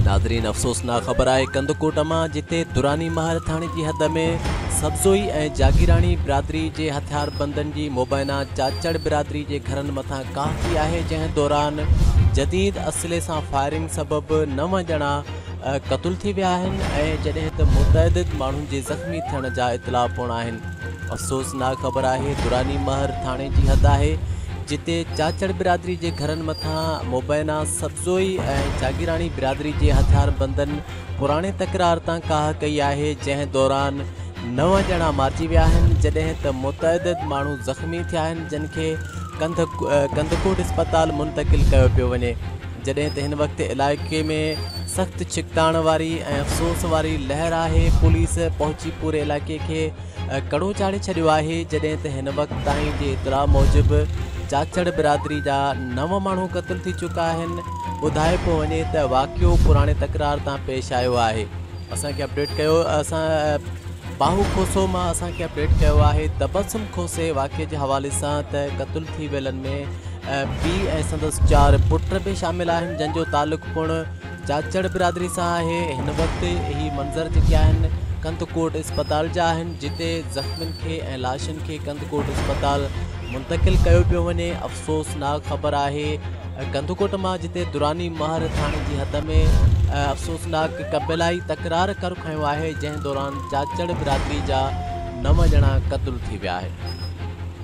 ناظرين افسوسناڪ خبر آهي ڪنڌڪوٽ مان جتي دراني مهر ٿاڻي جي حد ۾ سبزوئي ۽ جاگيراڻي برادري جي هٿياربندن جي مبينا چاچڙ برادري جي گهرن مٿان ڪاهه ٿي آهي جنهن دوران جديد اسلحي سان فائرنگ سبب نو ڄڻا قتل ٿي ويا آهن ۽ جڏهن ته متعدد ماڻهن جي زخمي ٿيڻ جا اطلاع پڻ آهن. افسوسناڪ خبر آهي دراني مهر ٿاڻي جي حد آهي جتي چاچڙ برادري جي گهرن مٿان مبينا سبزوئي ۽ جاگيراڻي برادري جي هٿيار بندن پراڻي تڪرار تان ڪاهه ڪئي آهي جنهن دوران نو ڄڻا مارجي ويا آهن جڏهن ته متعدد ماڻهو زخمي ٿيا آهن جن کي ڪنڌڪوٽ اسپتال منتقل ڪيو پيو وڃي جڏهن ته هن وقت علائقي ۾ سخت ڇڪتاڻ واري ۽ افسوس واري لهر آهي، پوليس پهچي پوري علائقي کي ڪڙو چاڙهي ڇڏيو آهي، جڏهن ته هن وقت تائين جي اطلاع موجب چاچڙ برادري جا نو ماڻهو قتل ٿي چڪا آهن، ٻڌايوپيو وڃي ته واقعو پراڻي تڪرار تان پيش آيو آهي. اسان کي اپڊيٽ ڪيو اسان باهو کوسو مان اسان کي اپڊيٽ ڪيو آهي تبسم کوسي واقعي جي حوالي سان ته قتل ٿي ويلن ۾ پيء ۽ سندس چار پٽ به شامل آهن جن جو تعلق پڻ چاچڙ برادري سان آهي هن وقت هي منظر جيڪي آهن ڪنڌڪوٽ اسپتال جا آهن جتي زخمين کي ۽ لاشن کي ڪنڌڪوٽ اسپتال منتقل ڪيو پيو وڃي افسوسناڪ خبر آهي ڪنڌڪوٽ مان جتي دراني مهر ٿاڻي جي حد ۾ افسوسناڪ قبيلائي تڪرار ڪر کنيو آهي جنهن دوران چاچڙ برادري جا نو ڄڻا قتل ٿي ويا آهن.